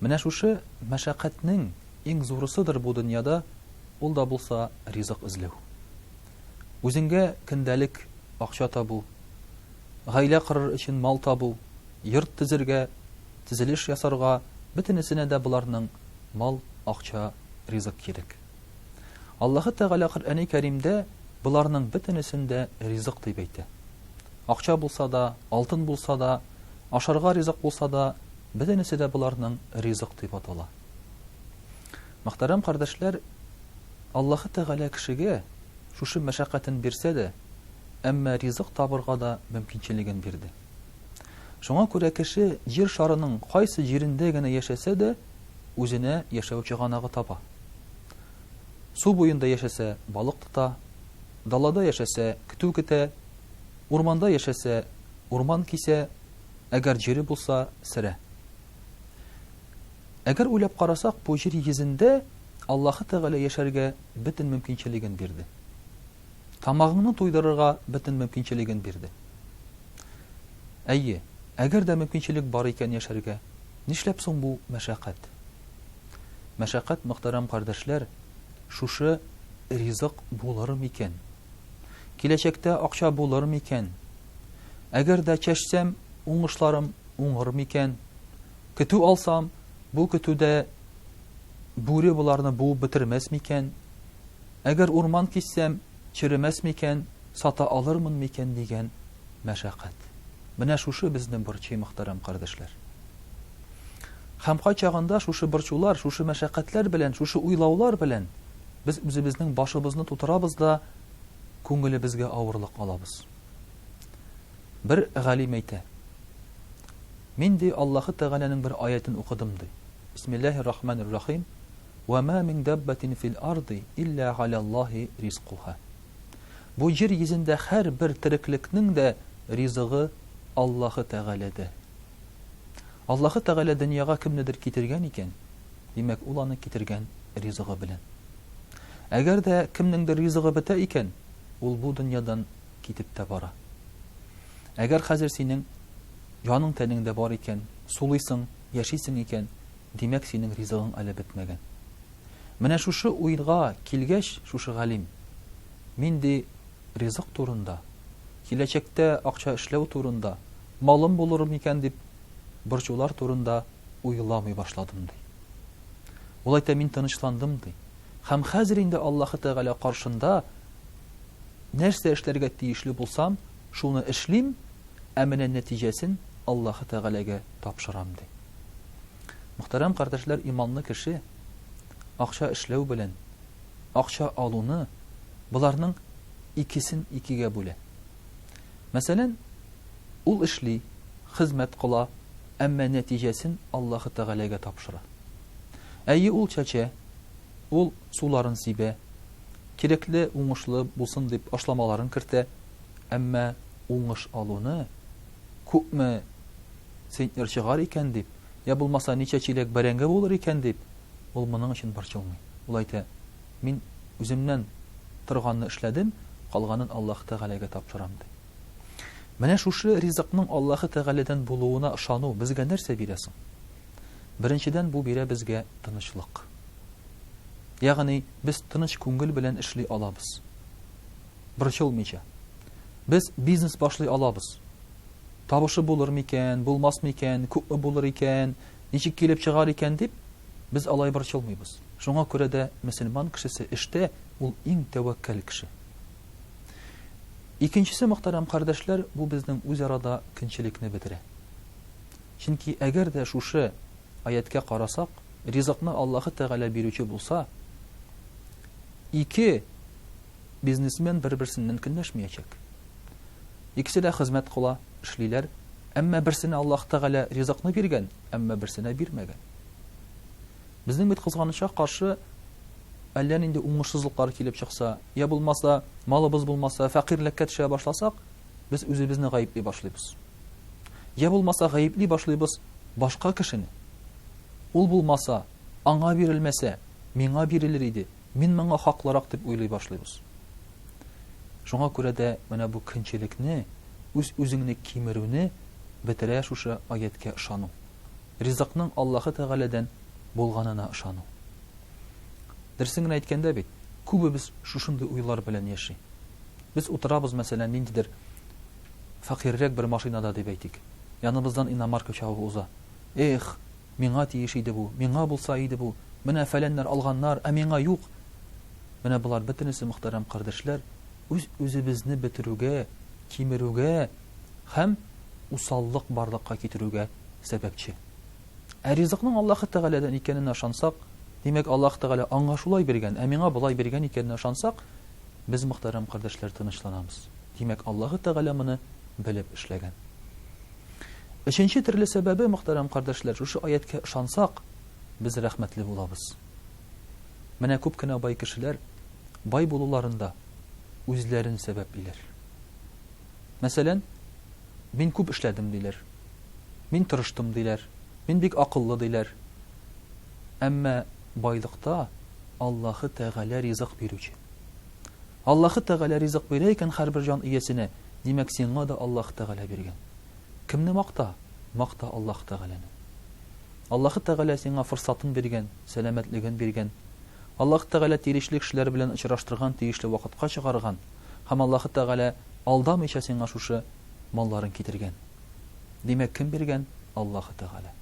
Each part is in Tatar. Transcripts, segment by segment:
Менә шушы мәшәкатьнең иң зурысыдыр бу дөньяда ул да булса ризык эзләү. Үзеңгә көндәлек акча табу, гаилә корыр өчен мал табу, йорт төзергә, төзелеш ясарга, бөтенесенә дә боларның мал, акча, ризык кирәк. Аллаһы Тәгалә Коръәни Кәримдә боларның бөтенесен дә ризык дип әйтә. Акча булса да, алтын булса да, ашарга ризык булса да, Бөтенесе дә боларның ризык дип атала. Мөхтәрәм кардәшләр, Аллаһы Тәгалә кешегә шушы мәшәкатен бирсә дә, әмма ризык табырга да мөмкинчелеген бирде. Шуңа күрә кеше җир шарының кайсы җирендә генә яшәсә дә, үзенә яшәү чыганагы таба. Су буенда яшәсә, балык тота, далада яшәсә, көтү көтә, урманда яшәсә, урман кисә, Әгәр җире булса, сере. Әгәр уйлап карасак, бу җир йөзендә Аллаһы Тәгалә яшәргә бөтен мөмкинчелеген бирде. Тамагыңны туйдырырга бөтен мөмкинчелеген бирде. Әйе, әгәр дә мөмкинчелек бар икән яшәргә, нишләп соң бу мәшәкать? Мәшәкать, мөхтәрәм кардәшләр, шушы ризык булыр микән? Киләчәктә акча булыр микән? Әгәр дә чәчсәм, уңышларым уңыр микән? Көтү алсам, бу көтүдә бүре боларны буып бетермәс микән? Әгәр урман киссәм, черемәс микән, сата алырмын микән дигән мәшәкать. Менә шушы безне борчый, мөхтәрәм кардәшләр. Һәм кайчагында шушы борчулар, шушы мәшәкатьләр белән, шушы уйлаулар белән Без үзебезнең башыбызны тутырабыз да күңелебезгә авырлык алабыз. Бер галим әйтә, Мин ди Аллаһы Тәгаләнең бер аятен укыдым ди. Бисмиллаһир рахманир рахим. Ва ма мин даббатин фил арди илля галяллаһи ризкуха. Бу җир йөзендә һәрбер тереклекнең дә ризыгы Аллаһы Тәгаләдә. Аллаһы Тәгалә дөньяга кемнедер китергән икән, Димәк, ул аны китергән ризыгы белән. Әгәр дә кемнеңдер ризыгы бетә икән, ул бу дөньядан китеп тә бара. Әгәр хәзер синең яның-тәнеңдә бар икән, сулыйсың, яшисең икән, димәк, синең ризыгың әле бетмәгән. Менә шушы уйга килгәч, шушы галим, мин, ди, ризык турында, киләчәктә акча эшләү турында, малым булыр микән дип борчулар турында уйламый башладым, ди. Ул әйтә, мин тынычландым, ди. Һәм хәзер инде Аллаһы Тәгалә каршында нәрсә эшләргә тиешле булсам, шуны эшлим, ә менә нәтиҗәсен Аллаһы Тәгаләгә тапшырам, ди. Мөхтәрәм кардәшләр, иманлы кеше акча эшләү белән акча алуны боларның икесен икегә бүлә. Мәсәлән, Ул эшли, хезмәт кыла, әмма нәтиҗәсен Аллаһы Тәгаләгә тапшыра. Әйе, ул чәчә, ул суларын сибә, кирәкле, уңышлы булсын дип ашламаларын кертә, әмма уңыш алуны, күпме центнер чыгар икән дип, йә булмаса ничә чиләк бәрәңге булыр икән дип, ул моның өчен борчылмый. Ул әйтә, Мин үземнән торганны эшләдем, калганын Аллаһы Тәгаләгә тапшырам, ди. Менә шушы ризыкның Аллаһы Тәгаләдән булуына ышану безгә нәрсә бирә соң? Беренчедән, бу бирә безгә тынычлык. Ягъни, без тыныч күңел белән эшли алабыз, борчылмыйча. Без бизнес башлый алабыз. Табышы булыр микән, булмас микән, күпме булыр икән, ничек килеп чыгар икән дип, без алай борчылмыйбыз. Шуңа күрә дә мөселман кешесе эштә ул иң тәвәккәл кеше. Икенчесе, мөхтәрәм кардәшләр, бу безнең үзара да көнчелекне бетерә. Чөнки әгәр дә шушы аяткә карасак, ризыкны Аллаһы Тәгалә бирүче булса, ике бизнесмен бер-берсеннән көнләшмәячәк. Икесе дә хезмәт кыла, эшлиләр, әмма берсенә Аллаһ Тәгалә ризыкны биргән, әмма берсенә бирмәгән. Безнең бит кызганычка каршы әллә нинди уңышсызлыклар килеп чыкса, йә булмаса, малыбыз булмаса, фәкыйрьлеккә төшә башласак, без үзебезне гаепли башлыйбыз. Йә булмаса, гаепли башлыйбыз башка кешене. Ул булмаса, аңа бирелмәсә, миңа бирелер иде, мин моңа хаклырак дип уйлый башлыйбыз. Шуңа күрә дә менә бу көнчелекне, үз-үзеңне кимерүне бетерә шушы аятькә ышану. ризыкның Аллаһы Тәгаләдән булганына ышану. Дөресен генә әйткәндә бит, күбебез шушындый уйлар белән яши. Без утырабыз, мәсәлән, ниндидер фәкыйрьрәк бер машинада дип әйтик. Яныбыздан иномарка чабып уза. Эх, миңа тиеш иде бу, миңа булса иде бу, менә фәләннәр алганнар, ә миңа юк! Менә болар бөтенесе, мөхтәрәм кардәшләр, үз-үзебезне бетерүгә, кимерүгә һәм усаллык барлыкка китерүгә сәбәпче. Ә ризыкның Аллаһы Тәгаләдән икәненә ышансак, димәк, Аллаһы Тәгалә аңа шулай биргән, ә миңа болай биргән икәненә ышансак, без, мөхтәрәм кардәшләр, тынычланабыз. Димәк, Аллаһы Тәгалә моны белеп эшләгән. Өченче төрле сәбәбе, мөхтәрәм кардәшләр, шушы аятькә ышансак, без рәхмәтле булабыз. Менә күп кенә бай кешеләр бай булуларында үзләрен сәбәплиләр. Мәсәлән, Мин күп эшләдем, диләр. Мин тырыштым, диләр. Мин бик акыллы, диләр. Әмма байлыкта Аллаһы Тәгалә ризык бирүче. Аллаһы Тәгалә ризык бирә икән һәрбер җан иясенә, димәк, сиңа да Аллаһы Тәгалә биргән. Кемне макта? Макта Аллаһы Тәгаләне. Аллаһы Тәгалә сиңа форсатын биргән, сәламәтлеген биргән. Аллаһы Тәгалә тиерешле кешеләр белән очраштырган, тиешле вакытка чыгарган. һәм Аллаһы Тәгалә алдамыйча сиңа шушы малларын китергән. Димәк, кем биргән? Аллаһы Тәгалә.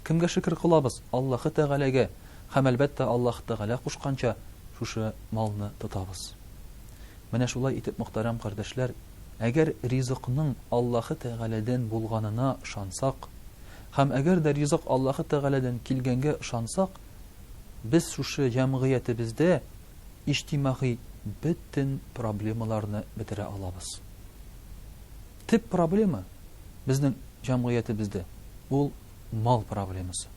Кемгә шөкер кылабыз? Аллаһы Тәгаләгә. Һәм, әлбәттә, Аллаһы Тәгалә кушканча шушы малны тотабыз. Менә шулай итеп, мөхтәрәм кардәшләр, әгәр ризыкның Аллаһы Тәгаләдән булганына ышансак, һәм әгәр дә ризык Аллаһы Тәгаләдән килгәнгә ышансак, без шушы җәмгыятебездә иҗтимагый бөтен проблемаларны бетерә алабыз. Төп проблема безнең җәмгыятебездә ул мал проблемасы,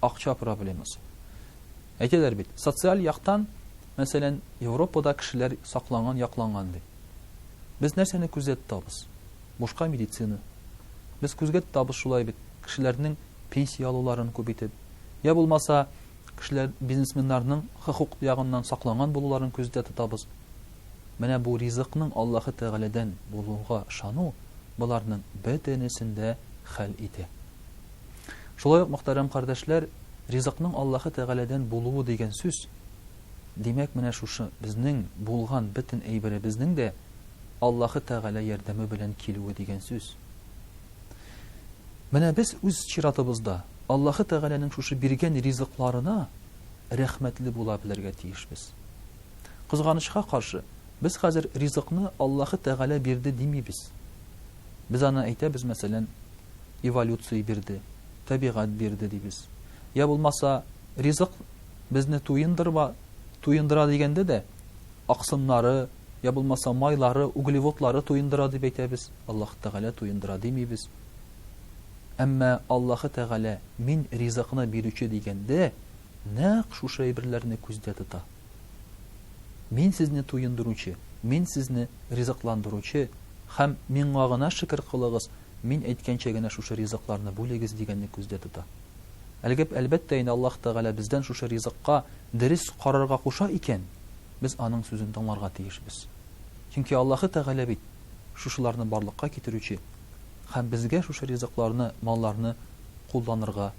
акча проблемасы. Әйтәләр бит, социаль яктан, мәсәлән, Европада кешеләр сакланган, якланган ди. Без нәрсәне күздә тотабыз? Бушка медицина. Без күзгә тотабыз шулай бит, кешеләрнең пенсия алуларын күп итеп. Я булмаса, Кешеләр, бизнесменнарның хокук ягыннан сакланган булуларын күздә тотабыз. Менә бу ризыкның Аллаһы Тәгаләдән булуга ышану боларның бөтенесен дә хәл итә. Шулай ук, мөхтәрәм кардәшләр, ризыкның Аллаһы Тәгаләдән булуы дигән сүз, димәк, менә шушы безнең булган бөтен әйберебезнең дә Аллаһы Тәгалә ярдәме белән килүе дигән сүз. Менә без үз чиратыбызда Аллаһы Тәгаләнең шушы биргән ризыкларына рәхмәтле була белергә тиешбез. Кызганычка каршы, без хәзер ризыкны Аллаһы Тәгалә бирде димибез. Без аны әйтәбез, мәсәлән, эволюция бирде, табигать бирде дибез. Йә булмаса, ризык безне туендырма, туендыра дигәндә дә, аксымнары, йә булмаса майлары, углеводлары туендыра дип әйтәбез, Аллаһ Тәгалә туендыра димибез. Әмма Аллаһы Тәгалә Мин ризыкны бирүче дигәндә, нәкъ шушы әйберләрне күздә тота. Мин сезне туендыручы, Мин сезне ризыкландыручы һәм Миңа гына шөкер кылыгыз, Мин әйткәнчә генә шушы ризыкларны бүлегез дигәнне күздә тота. Әлгеп, әлбәттә инде, Аллаһ Тәгалә бездән шушы ризыкка дөрес карарга куша икән, без аның сүзен тыңларга тиешбез. Чөнки Аллаһы Тәгалә бит шушыларны барлыкка китерүче һәм безгә шушы ризыкларны, малларны кулланырга,